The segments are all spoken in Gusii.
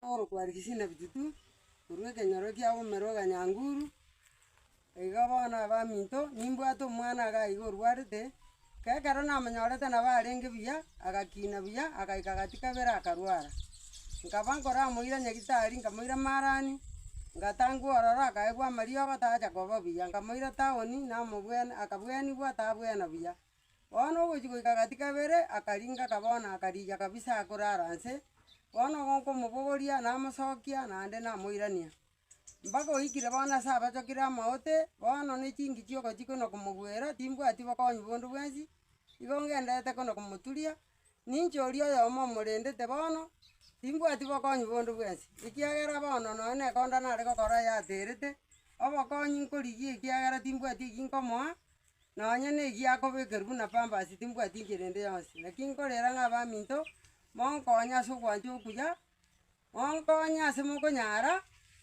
Paulo kware chisina bitutu korwa ekenyoro kia omomero o Kanyanguru, iga bono abaminto, nimbwate omwana iga aiga orwarete, ka ekero namonyorete nabo arenge buya, agakina buya, agaika agati kabere akarwara. Nkaba nkoramoira nyagetari, nkamoira marani, ngatangwa ororo akaegwa amariogo tacha koba buya, nkamoira towni, namobwen akabuenigwa tabwena buya. Bono ogochia goika gati kabere akaringa kabona akarigia kabisa akorara nse, bono gokomobogoria namosokia naende namoirania. Mpaka oikire bono ase abachokire amaote, bono ne chinki chiogochia kona komogwera timbwati bokonyi bonde bwensi, igo ngenderete kona komoturia, ninche oria oyomo omorendete bono, timbwati bokonyi bonde bwensi, ekiagera bono nonye na ekonda nare gokora yaterete, obokonyi nkorigia ekiagera timbwati eki nkomoa. Nonya negiakobekerwa buna pambasi timbwati inchera ende yonsi, naki nkorera ng'a abaminto, monkonye ase ogwancha okuya, monkonye ase mokonyara,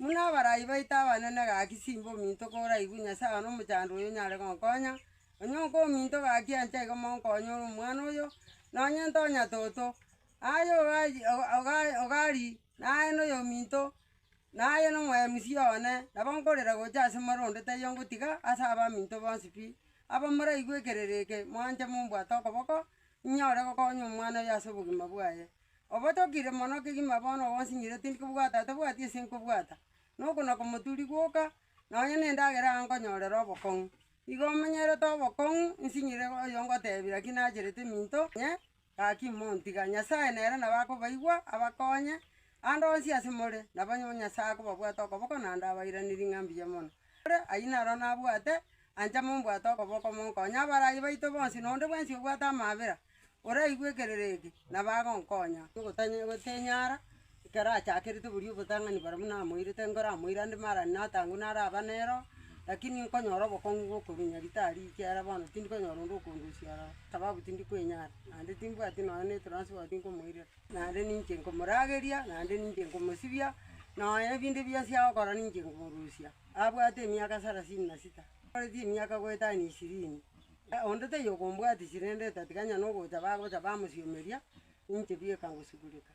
buna abarai baito abanene gaki simba ominto koraigwe Nyasae one omochando oyo onyare gonkonya, onye oka ominto gaki ancha iga monkonye ore omwana oyo, nonye ntonya toto, aye ogachi oga oga ogari naye noyo ominto, Naye n'omoyomisia one nabo nkorera gocha ase more onde taiyo ngotiga ase abaminto bonsi pi. Abamoraigwe ekereri eke, moanche mombwate okoboko, inyore gokonya omwana oyo ase obogima bwaye. Obotokire mono kegima bono gonsinyire tindi kobwata atabwati ase nkobwata, na okonakomoturi gwoka, nonya nendagera aa nkonyorera obokong'u. Igo omenyerete obokong'u, nsinyire oyo ngotebi, lakini nacherete eminto, inye Gaki montiga. Nyasae nere nabo akobaigwa, abakonye. Ande onsi ase more, nabo Nyasae akobabwata okoboko naende abairanerie ng'a mbuya mono. Ore ayio naro nabwate, ancha mombwate okoboko monkonye. Abarai baito bonsi, na onde bwensi obwate amaabera, oraigwe ekerero eke, nabo agonkonya. Ogotanya gotenyara. Ekero achakerete boria obotang'ani bara buna amoirete, nkoramoire ande marani natangwe naraba nero, lakini nkonyora obokong'u bw'okorwa Nyaritari ekiagera bono tindi konyora onde okondusia ororo, sababu tindi kwenyara, naende timbwati nonya ne transport nkomoirera, naende ninche nkomorageria, naende ninche nkomosibia, nonya ebinde bionsi agokora ninche nkomorusia, abwate emiaka sarasini na sita, akoreti emiaka goetania ishirini, onde taiyo okombwatisia rende otatiga nonya nogocha bagocha bamosiomeria, ninche bieka ngosugureka.